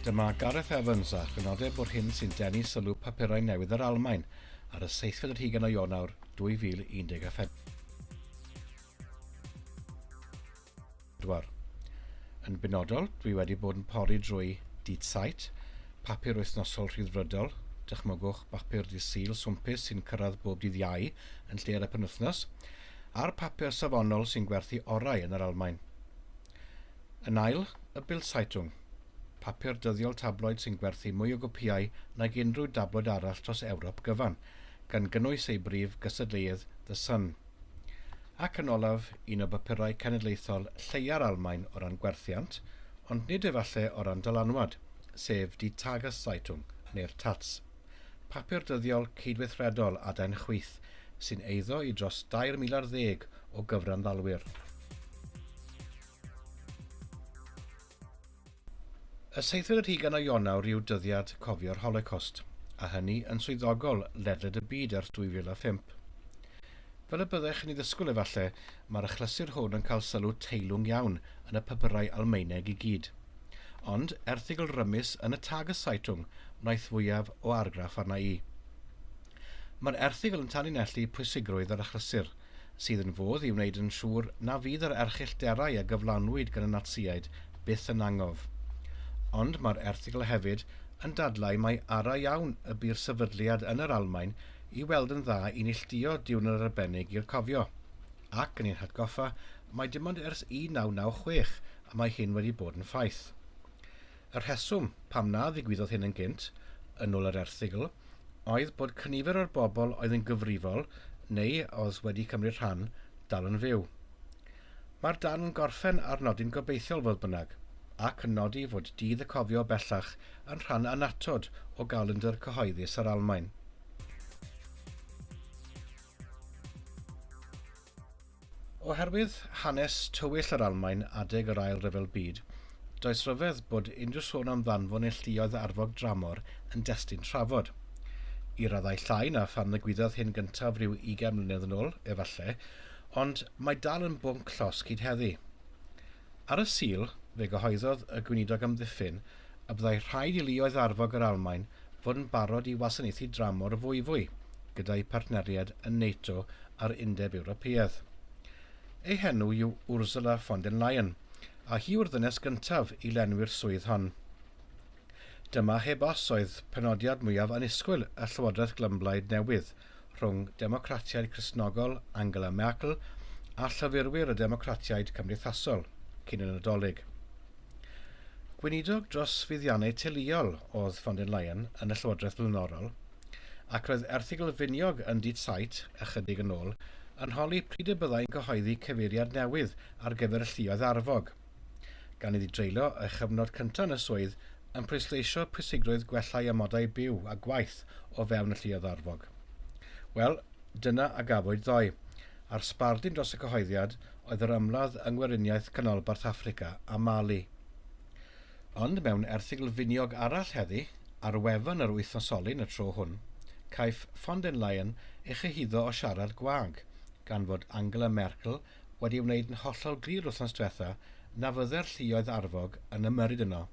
Dyma Gareth Evans a chynodeb bod hyn sy'n denu sylw papurau newydd yr Almaen ar y seithfed ar hugen o Ionawr 2014. pedwar. Yn benodol, dwi wedi bod yn pori drwy Dydd Sait, papur wythnosol rhyddfrydol, dychmygwch bapur Dydd Sul swmpus sy'n cyrraedd bob dydd Iau yn lle ar y penwythnos, a'r papur safonol sy'n gwerthu orau yn yr Almaen. Yn ail, y Bildzeitung, papur dyddiol tabloid sy'n gwerthu mwy o gopïau nag unrhyw dabloid arall dros Ewrop gyfan, gan gynnwys ei brif gystadleuydd The Sun. Ac yn olaf, un o bapurau cenedlaethol lleia'r Almaen o ran gwerthiant, ond nid efalle o ran dylanwad, sef Die Tageszeitung, neu'r Taz. Papur dyddiol cydweithredol adain chwith, sy'n eiddo i dros dair mil ar ddeg o gyfranddalwyr. Y seithfed ar hugain o Ionawr yw dyddiad cofio'r Holocost, a hynny yn swyddogol ledled y byd ers 2005. Fel y byddech yn ei ddysgwyl efallai, mae'r achlysur hwn yn cael sylw teilwng iawn yn y papyrau Almaeneg i gyd. Ond, erthygl rymus yn y Tageszeitung wnaeth fwyaf o argraff arna i. Mae'r erthygl yn tanlinellu pwysigrwydd yr achlysur, sydd yn fodd i wneud yn siŵr na fydd yr erchyllterau a gyflanwyd gan y Natsïaid byth yn angof. Ond mae'r erthygl hefyd yn dadlau mai ara iawn y bu'r sefydliad yn yr Almaen i weld yn dda i neilltuo diwrnod arbennig i'r cofio, ac yn ein hatgoffa mai dim ond ers 1996 y mae hyn wedi bod yn ffaith. Y rheswm pam na ddigwyddodd hyn yn gynt, yn ôl yr erthygl, oedd bod cynifer o'r bobl oedd yn gyfrifol neu oedd wedi cymryd rhan dal yn fyw. Mae'r darn yn gorffen ar nodyn gobeithiol fodd bynnag, ac yn nodi fod Dydd y Cofio bellach yn rhan annatod o galendr cyhoeddus yr Almaen. Oherwydd hanes tywyll yr Almaen adeg yr Ail Ryfel Byd, does ryfedd bod unrhyw sôn am ddanfon neillduoedd arfog dramor yn destun trafod. I raddau llai na phan ddigwyddodd hyn gyntaf ryw ugain mlynedd yn ôl, efallai, ond mae dal yn bwnc llosg hyd heddi. Ar y Sul, fe gyhoeddodd y Gweinidog Amddiffyn y byddai rhaid i luoedd arfog yr Almaen fod yn barod i wasanaethu dramor y fwyfwy, gyda'u partneriaid yn NATO a'r Undeb Ewropeaidd. Ei henw yw Ursula von den Leyen, a hi yw'r ddynes gyntaf i lenwi'r swydd hon. Dyma heb os oedd penodiad mwyaf annisgwyl y llywodraeth glymblaid newydd, rhwng Democratiaid Cristnogol Angela Merkel a llyfurwyr y Democratiaid Cymdeithasol cyn y Nadolig. Gweinidog dros fuddiannau teuluol oedd von den Leyen yn y llywodraeth flaenorol, ac roedd erthygl finiog yn Die Zeit ychydig yn ôl yn holi pryd y byddai'n cyhoeddi cyfeiriad newydd ar gyfer y lluoedd arfog, gan iddi dreulio ei chyfnod cyntaf yn y swydd yn pwysleisio pwysigrwydd gwellhau amodau byw a gwaith o fewn y lluoedd arfog. Wel, dyna a gafwyd ddoe, a'r sbardun dros y cyhoeddiad oedd yr ymladd yng Ngweriniaeth Canolbarth Affrica a Mali. Ond mewn erthygl finiog arall heddi, ar wefan yr wythnosolyn y tro hwn, caiff von den Leyen ei chyhuddo o siarad gwag, gan fod Angela Merkel wedi wneud yn hollol glir wythnos diwetha na fydde'r lluoedd arfog yn ymyrryd yno.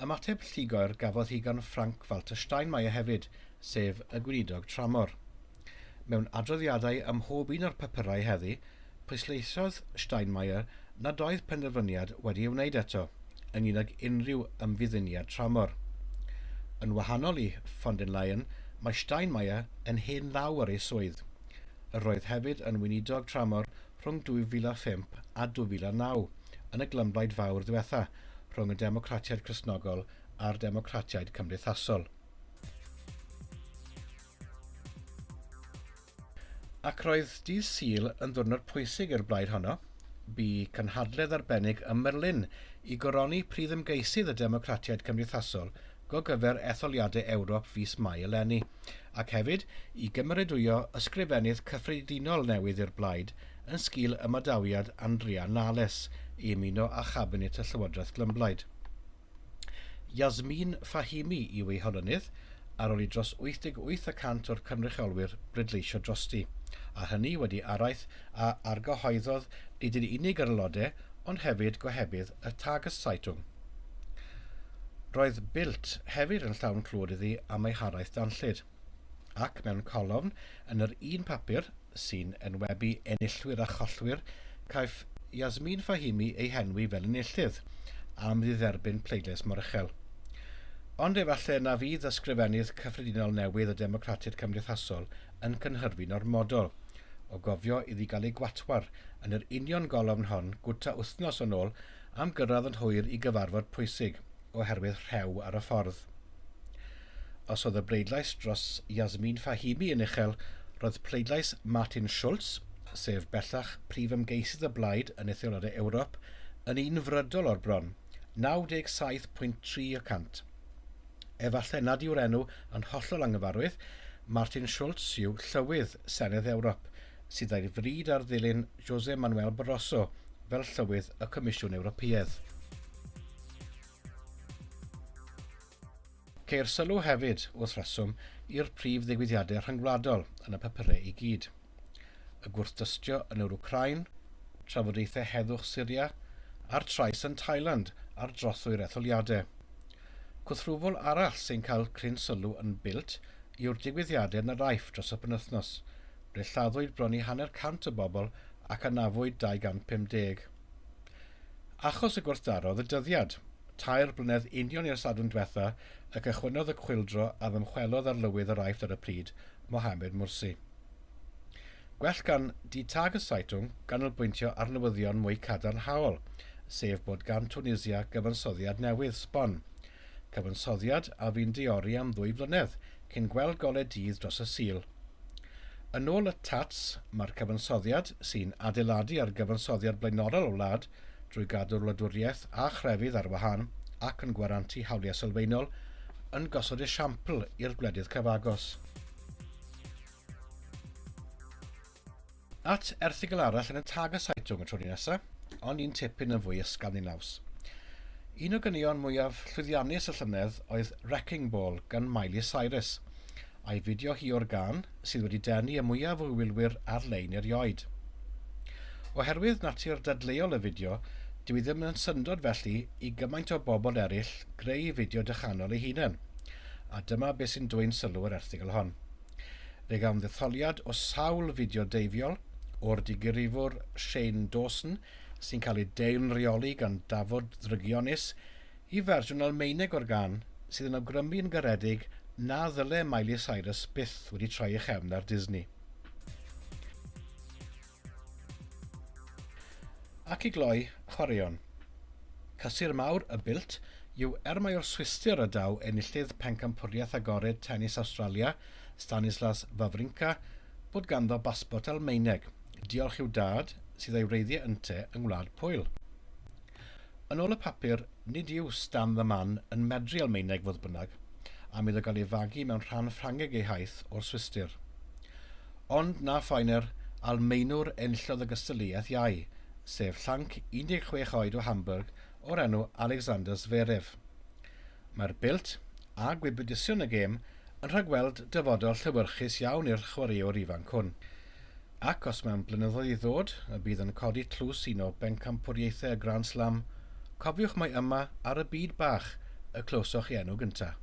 Ymateb llugoer gafodd hi gan Frank Walter Steinmeier hefyd, sef y gweinidog tramor. Mewn adroddiadau ym mhob un o'r papurau heddi, pwysleisiodd Steinmeier nad oedd penderfyniad wedi ei wneud eto ynglŷn ag unrhyw ymfudduniad tramor. Yn wahanol i von den Leyen, mae Steinmeier yn hen ddaw ar ei swydd. Yr oedd hefyd yn weinidog tramor rhwng 2005 a 2009 yn y glymblaid fawr ddiwetha rhwng y Democratiaid Cristnogol a'r Democratiaid Cymdeithasol. Ac roedd dydd Sul yn ddwrnod pwysig i'r blaid honno. Bu cynhadledd arbennig ym Merlin i goroni prif ymgeisydd y Democratiaid Cymdeithasol go gyfer Etholiadau Ewrop fis Mai eleni, ac hefyd i gymeradwyo Ysgrifennydd Cyffredinol newydd i'r Blaid yn sgil ymadawiad Andrea Nahles i ymuno â Chabinet y Llywodraeth Glymblaid. Yasmeen Fahimi yw ei holynydd, ar ôl i dros 88 y cant o'r cynrychiolwyr bleidleisio drosti, a hynny wedi araith a argyhoeddodd nid yn unig yr aelodau ond hefyd gohebydd y Tageszeitung. Roedd Bilt hefyd yn llawn clwad iddi am ei haraith danllyd, ac mewn colofn yn yr un papur sy'n enwebu enillwyr a chollwyr caiff Yasmeen Fahimi ei henwi fel enillydd am ddidderbyn pleidlais mor uchel. Ond efallai na fydd Ysgrifennydd Cyffredinol newydd y Democratiaid Cymdeithasol yn cynhyrfu'n ormodol o gofio iddi gael ei gwatwar yn yr union golofn hon gwta wythnos yn ôl am gyrraedd yn hwyr i gyfarfod pwysig oherwydd rhew ar y ffordd. Os oedd y bleidlais dros Yasmeen Fahimi yn uchel, roedd pleidlais Martin Schulz, sef bellach prif ymgeisydd y blaid yn Etholiadau Ewrop, yn un frydol o'r bron, 97.3 y cant. Efallai nad yw'r enw yn hollol anghyfarwydd, Martin Schulz yw llywydd Senedd Ewrop, sydd a'i fryd ar ddilyn José Manuel Barroso fel Llywydd y Comisiwn Ewropeaidd. Ceir sylw hefyd, wrth reswm, i'r prif ddigwyddiadau rhyngwladol yn y papurau i gyd. Y gwrthdystio yn yr Wcrain, trafodaethau heddwch Syria, a'r trais yn Thailand ar drothwy'r etholiadau. Cwthrwfwl arall sy'n cael cryn sylw yn Bilt yw'r digwyddiadau yn yr Aiff dros y penwythnos, ble lladdwyd bron i hanner cant o bobl ac anafwyd 250. Achos y gwrthdaro ddydyddiad, tair blynedd union i'r Sadwrn dwetha y cychwynnodd y chwyldro a ddymchwelodd arlywydd yr Aifft ar y pryd, Mohamed Mursi. Gwell gan Die Tageszeitung ganolbwyntio ar newyddion mwy cadarnhaol, sef bod gan Tunisia gyfansoddiad newydd, sbon, cyfansoddiad a fu'n deori am ddwy flynedd cyn gweld golau dydd dros y Sul. Yn ôl y TATs, mae'r cyfansoddiad, sy'n adeiladu ar gyfansoddiad blaenorol y wlad drwy gadw'r wladwriaeth a chrefydd ar wahân ac yn gwarantu hawliau sylfaenol, yn gosod esiampl i'r gwledydd cyfagos. At erthygl arall yn y Tageszeitung y tro ni nesa, ond un tipyn yn fwy ysgafn i naws. Un o ganeuon mwyaf llwyddiannus y llynedd oedd Wrecking Ball gan Miley Cyrus, a'i fideo hi o'r gân sydd wedi denu y mwyaf o wylwyr ar-lein erioed. Oherwydd natur dadleuol y fideo, dyw hi ddim yn syndod felly i gymaint o bobl eraill greu fideo dychanol eu hunain. A dyma beth sy'n dwyn sylw yr erthygl hon. Fe gawn ddetholiad o sawl fideo deifiol o'r digrifwr Shane Dawson sy'n cael ei deilwrioli gan dafod ddrygionus i fersiwn Almaeneg o'r gân sydd yn awgrymu yn garedig na ddyle Miley Cyrus byth wedi troi ei chefn ar Disney. Ac i gloi, chwaraeon. Cysur mawr y Built yw er mai o'r Swistir y daw enillydd pencampwriaeth agored tenis Awstralia, Stanislas Wawrinka, bod ganddo basbort Almaeneg, diolch i'w dad, sydd ei wreiddiau ynte yng Ngwlad Pwyl. Yn ôl y papur, nid yw Stan the Man yn medru Almaeneg fodd bynnag, am iddo gael ei fagu mewn rhan Ffrangeg ei haith o'r Swistir. Ond na phoener, Almaenwr enillodd y gystadleuaeth iau, sef llanc 16 oed o Hamburg o'r enw Alexander Zverev. Mae'r belt, a gwybodaethsion y gêm, yn rhagweld dyfodol llewyrchus iawn i'r chwaraewr ifanc hwn. Ac os mewn blynyddoedd i ddod y bydd yn codi tlws un o bencampwriaethau y Grand Slam, cofiwch mai yma ar y byd bach y clywsoch ei enw gyntaf.